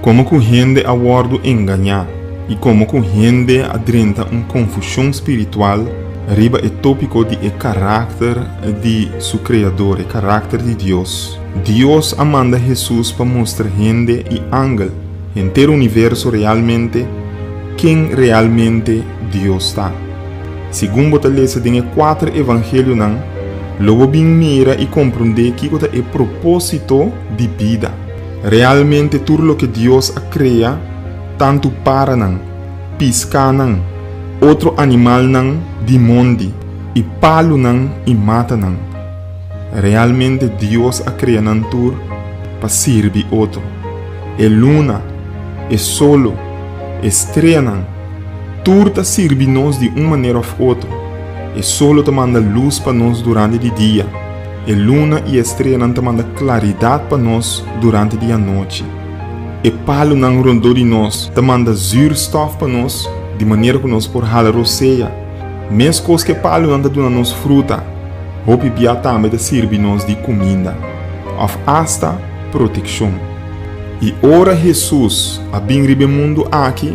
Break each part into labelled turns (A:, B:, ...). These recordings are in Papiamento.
A: Komo ku hende a wòrdu engañá i komo ku hende a drenta un konfushon spiritual riba e tópiko di e karakter di su Kreador, e karakter di Dios. Dios a manda Hesus pa mustra hende i angel, henter universo realmente ken realmente Dios ta. Segun bo ta lesa den e kuater Evangelionan, lo bo bin mira i komprondé kiko ta e propósito di bida. Realmente tur loke Dios a krea, tantu paranan, piskanan, otro animalnan di mondi, i palunan i matanan, realmente Dios a krea nan tur pa sirbi otro. E luna, e solo, e streanan, tur ta sirbi nos di un manera of otro. E solo ta manda lus pa nos durante di dia. E luna i e streanan ta manda klaridat pa nos durante di anochi. E palunan rondó di nos ta manda zùrstòf pa nos di manera ku nos por hala rosea. Meskos ku e palunan ta duna nos fruta, hopi bia tambe ta sirbi nos di kuminda, òf asta protekshon. I ora Hesus a bin riba e mundu aki,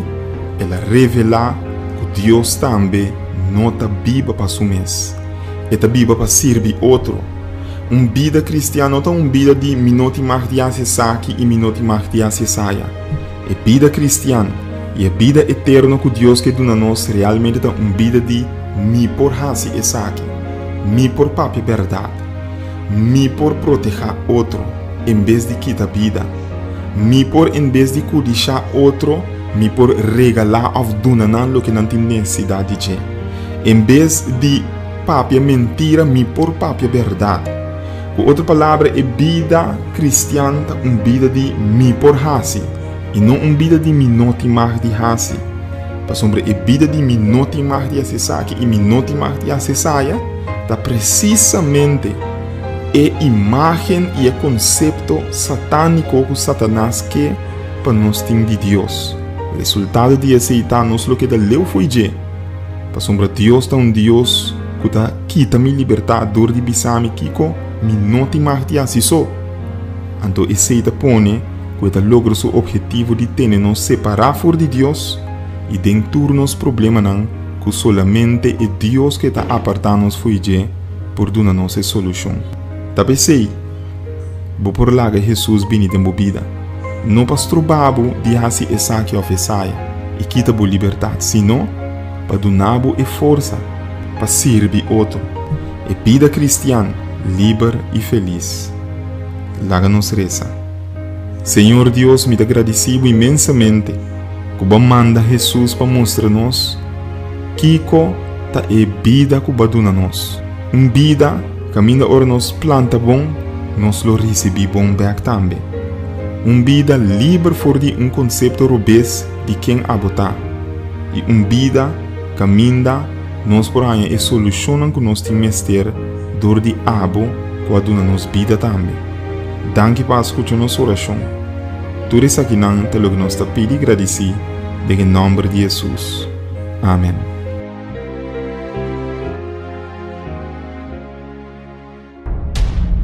A: el a revelá ku Dios tambe no ta biba pa su mes. E ta biba pa sirbi otro. Un bida kristian no ta un bida di mi no tin mag di hasi esaki i mi no tin mag di hasi esaya. E bida kristian i e bida eterno ku Dios ke duna nos realmente ta un bida di mi por hasi esaki, mi por papia bèrdat, mi por protehá otro en bes di kita bida, mi por en bes di kudishá otro mi por regalá òf duna nan loke nan tin nesesidat di dje. En bes di papia mentira mi por papia bèrdat. Ku otro palabra e bida kristian ta un bida di mi por hasi i no un bida di mi no tin mag di hasi. Pasobra e bida di mi no tin mag di hasi esaki i mi no tin mag di hasi esaya ta presisamente e imágen i e konsepto satániko ku Satanas ke pa nos tin di Dios. Resultado di esei ta nos lo keda leu fo'i dje. Pasobra Dios ta un Dios ku ta kita mi libertat dor di bisa mi kiko mi no tin mag di hasi so. Anto esei ta pone ku e ta logra su objetivo di tene nos separá for di Dios i den tur nos problemanan ku solamente e Dios ku e ta apartá nos fo'i dje por duna nos e solushon. Ta p'esei, Bo por laga Hesus bini den bo bida, no pa struba bo di hasi esaki òf esaya i kita bo libertat, sino pa duna bo e forsa pa sirbi otro. E bida kristian liber i felis. Laga nos resa, Señor Dios, mi ta gradisí bo inmensamente ku bo a manda Hesus pa mustra nos kiko ta e bida ku bo a duna nos, un bida, Kaminda ora nos planta bon, nos lo risibí bon bèk tambe. Un bida liber for di un konsepto robes di ken abotá i un bida kaminda nos por haña e solushonnan ku nos tin mester dor di Abo ku a duna nos bida tambe. Danki pa a skucha nos orashon. Tur esakinan ta loke nos ta pidi gradisí den e nòmber di Hesus. Amen.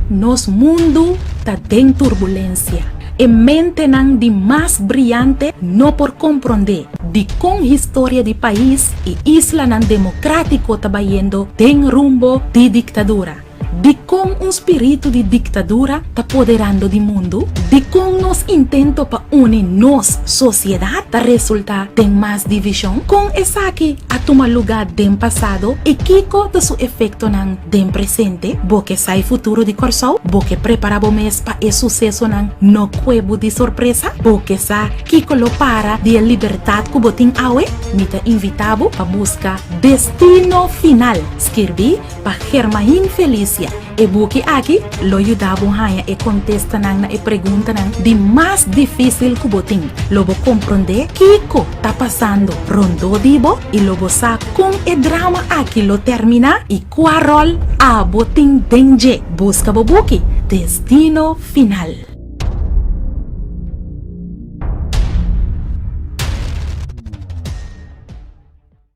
B: Nos mundu ta den turbulensia. E mentenan di mas briante no por komprondé dikon historia di pais i islanan demokratiko ta bayendo den rumbo di diktadura. Dikon un spiritu di diktadura ta poderando di mundu? Dikon nos intento pa uni nos sosiedat ta resultá den mas divishon? Kon esaki a tuma lugá den pasado i kiko ta su efektonan den presente? Bo ke sa e futuro di Kòrsou? Bo ke prepará bo mes pa e susesonan no kue bo di sorpresa? Bo ke sa kiko lo para di e libertat ku bo tin awe? Mi ta invitá bo pa buska Destino Final, skirbí Pa Germain Felicia, e buki aki lo yuda bo haña e kontestanan na e preguntanan di mas difísil ku bo tin. Lo bo komprondé kiko ta pasando rondó di bo i lo bo sa kon e drama aki lo terminá i kua ròl abo tin den dje. Buska bo buki Destino Final.